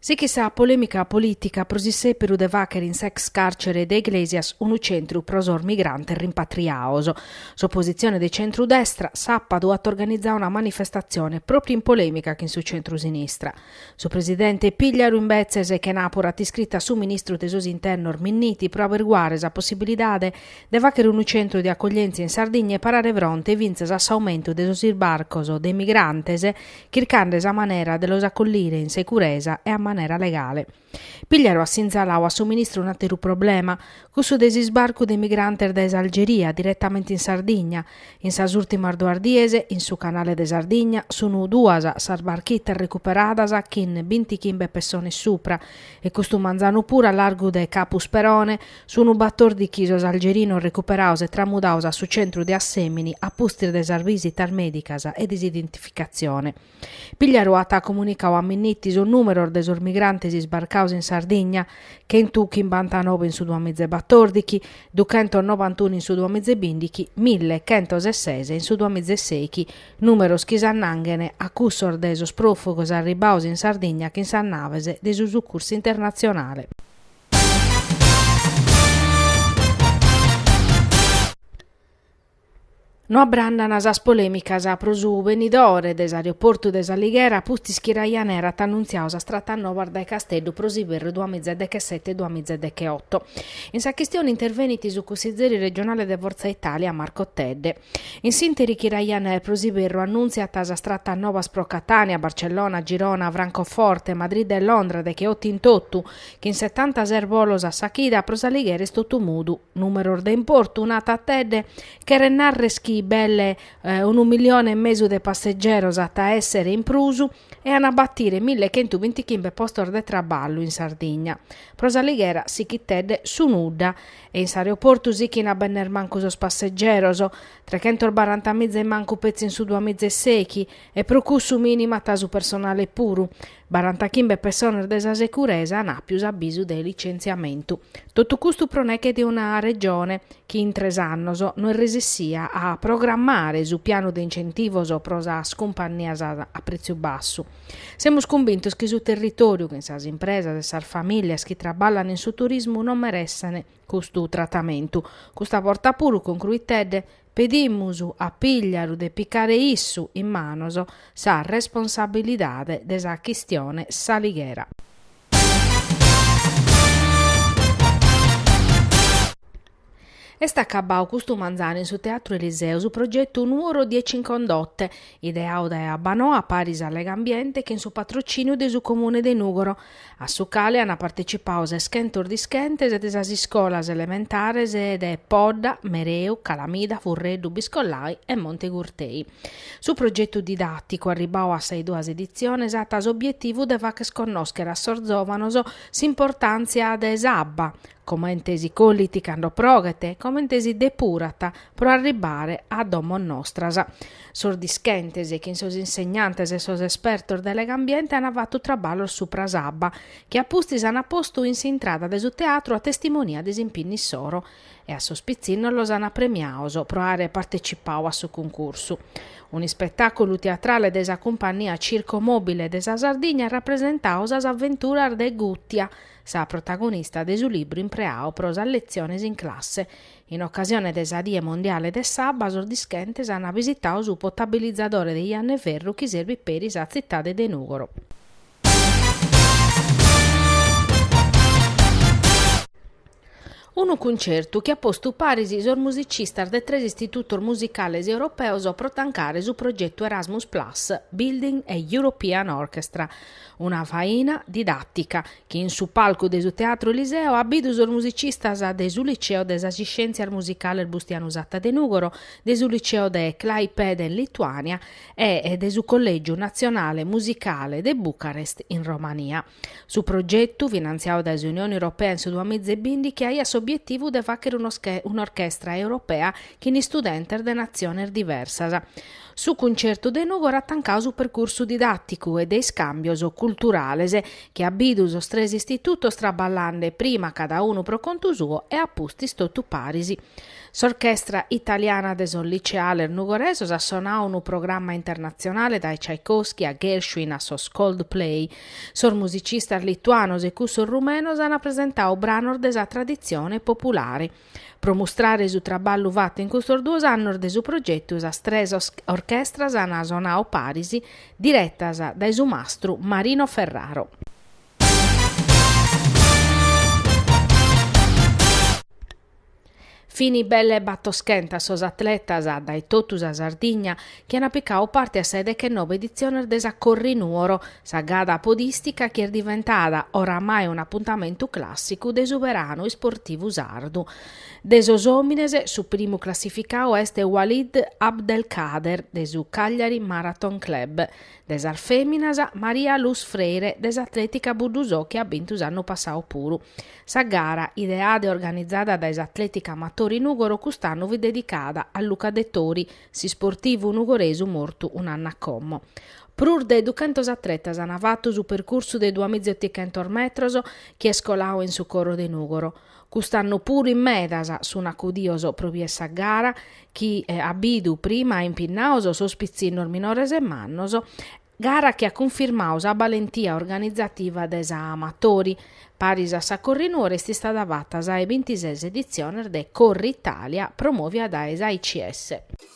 Sighit sa polèmica polìtica pro s'isèberu de fàghere in s'ex càrcere de Iglesias unu centru pro sos migrantes rimpatriados. S'opositzione de centru-destra sàbadu at organizadu una manifestatzione pròpiu in polèmica chin su centru-sinistra. Su presidente Pigliaru imbetzes chenàpura at iscritu a su ministru de sos internos Minniti pro averiguare sa possibilidade de fàghere unu centru de acoglièntzia in Sardigna e parare fronte fintzas a s'aumentu de sos isbarcos de migrantes chircande sa manera de los acollire in securesa e a manera legale. Pigliaru at sinzalau a su ministru un'ateru problema, cussu de s'isbarcu de migrantes dae s'Algeria diretamente in Sardigna. In sas ùrtimas duas dies, in su canale de Sardigna, sunu duas sas barchitas recuperadas chin bintichimbe pessones supra e custu manzanu puru a largu de Capu Sperone, Sunu batordichi sos algerinos recuperados e tramudados a su centru de Assèmini a pustis de sas bisitas mèdicas e de s'identificatzione. Pigliaru at comunicadu a Minniti sos nùmeros de sos migrantes isbarcados in Sardigna, chentu chimbantanobe in su duamizebatordichi, duchentos nobantunu in su duamizebìndichi, mille chentos e ses in su duamizesèichi, nùmeros chi s'annanghen a cussos de sos pròfugos arribbados in Sardigna chin sas naves de su sucursu internatzionale. No abbrandana sas polemicas pro su benidore de s'aeroportu de S'Alighera pustis chi Ryanair at annunziadu sas tratas novas dae Casteddu pro s'iberru duas miza e dechesete duas miza e decheoto. In sa chistione intervenit su cunsizeri regionale de Forza Italia Marco Tedde. In s'ìnteri chi Ryanair pro s'iberru annuntziat sas tratas nobas pro Catània, Barcellona, Girona, Francoforte, Madrid e Londra decheoto in totu, chin setantases bolos a sa chida pro S'Alighera est totu mudu. Nùmeros de importu, narat Tedde, cheret narrer chi belle unu milione e mesu de passegeros b'at a èssere in prus e an a batire mille chentu bintichimbe postos de traballu in Sardigna. Pro S'Alighera, sichit Tedde, su nudda E in s'aeroportu sichin a benner mancu sos passegeros. Trechentos baranta miza in mancu petzi in su duamiza e sèichi, e pro cussu mìnimat su personale puru. Barantachimbe pessones de sa securesa an apiu s'abisu de licentziamentu. Totu custu pro neche de una Regione chi in tres annos no est resessia a programmare su pianu de incentivos pro sas cumpannias a pretziu bassu. Semus cumbintos chi su territòriu, chin sas impresas e sas famìlias chi traballan in su turismu non meressent custu tratamentu. Custa borta puru, concruit Tedde, pedimus a Pigliaru de picare issu in manos sa responsabilidade de sa chistione S'Alighera. Est acabbadu custu manzanu in su Teatru Eliseu su progetu Nuoro dieci in condotte, ideadu dae Abbanoa paris a Legambiente chin su patrocìniu de su Comune de Nùgoro, a su cale ant partecipadu seschentos dischentes de sas iscolas elementares de Podda, Mereu, Calamida, Furreddu, Biscollai e Monte Gurtei. Su progetu didàticu, arribbadu a sas duas editziones, at s'obietivu de fagher connòschere a sos zòvanos s'importàntzia de s'abba, comente si collit cando proghet, comente si depurat pro arribbare a domos nostras. Sos dischentes chin sos insegnantes e sos espertos de Legambiente ant fatu traballos supra s'abba, chi a pustis ant postu in s'intrada de su teatru a testimonia de s'impinnu issoro, e a sos pitzinnos los ant premiados pro àere partecipadu a su cuncursu. Un'ispetàculu teatrale de sa cumpannia Circo Mobile de sa Sardigna at rapresentadu sas aventuras de Gùtia, sa protagonista de su libru impreadu pro sas letziones in classe. In ocasione de sa Die Mondiale de s'Abba sos dischentes ant visitadu su potabilizadore de Janna 'e Ferru chi serbit peri sa tzitade de Nùgoro. Unu cuncertu chi at postu paris sos musicistas de tres istitutos musicales europeos pro tancare su progetu Erasmus Plus, Building a European Orchestra, una faina didàtica chi in su palcu de su Teatro Eliseo at bidu sos musicistas de su Liceo de sas Iscièntzias Musicales Bustianu Satta de Nùgoro, de su Liceo de Klaipeda in Lituània e de su Collègiu Natzionale Musicale de Bucarest in Romania. Su progetu, finantziadu dae s'Unione Europea in su duamiza e binti, chi aiat s'obietivu de fàghere un'orchestra europea chin istudentes de natziones diversas. Su cuntzertu de Nùgoro at tancadu su percursu didàticu e de iscàmbios culturales, chi at bidu sos tres istitutos traballande prima cada unu pro contu suo e a pustis totu paris. S'Orchestra Italiana de sos Liceales Nugoresos at sonadu unu programma internatzionale dae Tchaikovsky a Gershwin a sos Coldplay, Sos musicistas lituanos e cussos rumenos an presentadu branos de sa traditzione populare. Pro mustrare su traballu fatu in custos duos annos de su progetu sas tres orchestras an sonadu paris, diretas dae su mastru Marino Ferraro. Fini belle battoschentas sos atletas dae totu sa Sardigna chi an picadu parte a sa 'e dechennoe editziones de sa Corri Nuoro, sa gara podìstica chi est diventada oramai un'apuntamentu clàssicu de su beranu isportivu sardu. De sos òmines su primu classificadu est Walid Abdelkader de su Cagliari Marathon Club, De sas fèminas, Maria Luz Freire de s'Atlètica Buddusò chi at bintu s'annu passadu puru. Sa gara, ideada e organizada dae s'Atlètica Amatori Nùgoro cust'annu fit dedicada a Luca Dettori, s'isportivu nugoresu mortu un'annu a como. Prus de duchentos atletas ant fatu su percursu de duamiza e otichentos metros chi est coladu in su coro de Nùgoro. Cust'annu puru in medas sun acudios pro bier sa gara chi at bidu prima impinnados sos pitzinnos minores e mannos, gara chi at cunfirmadu sa balentia organizativa de sa Amatori. Paris a sa Corrinuoro est istada fata sa 'e bintises editziones de Corritalia promovia dae s'AICS.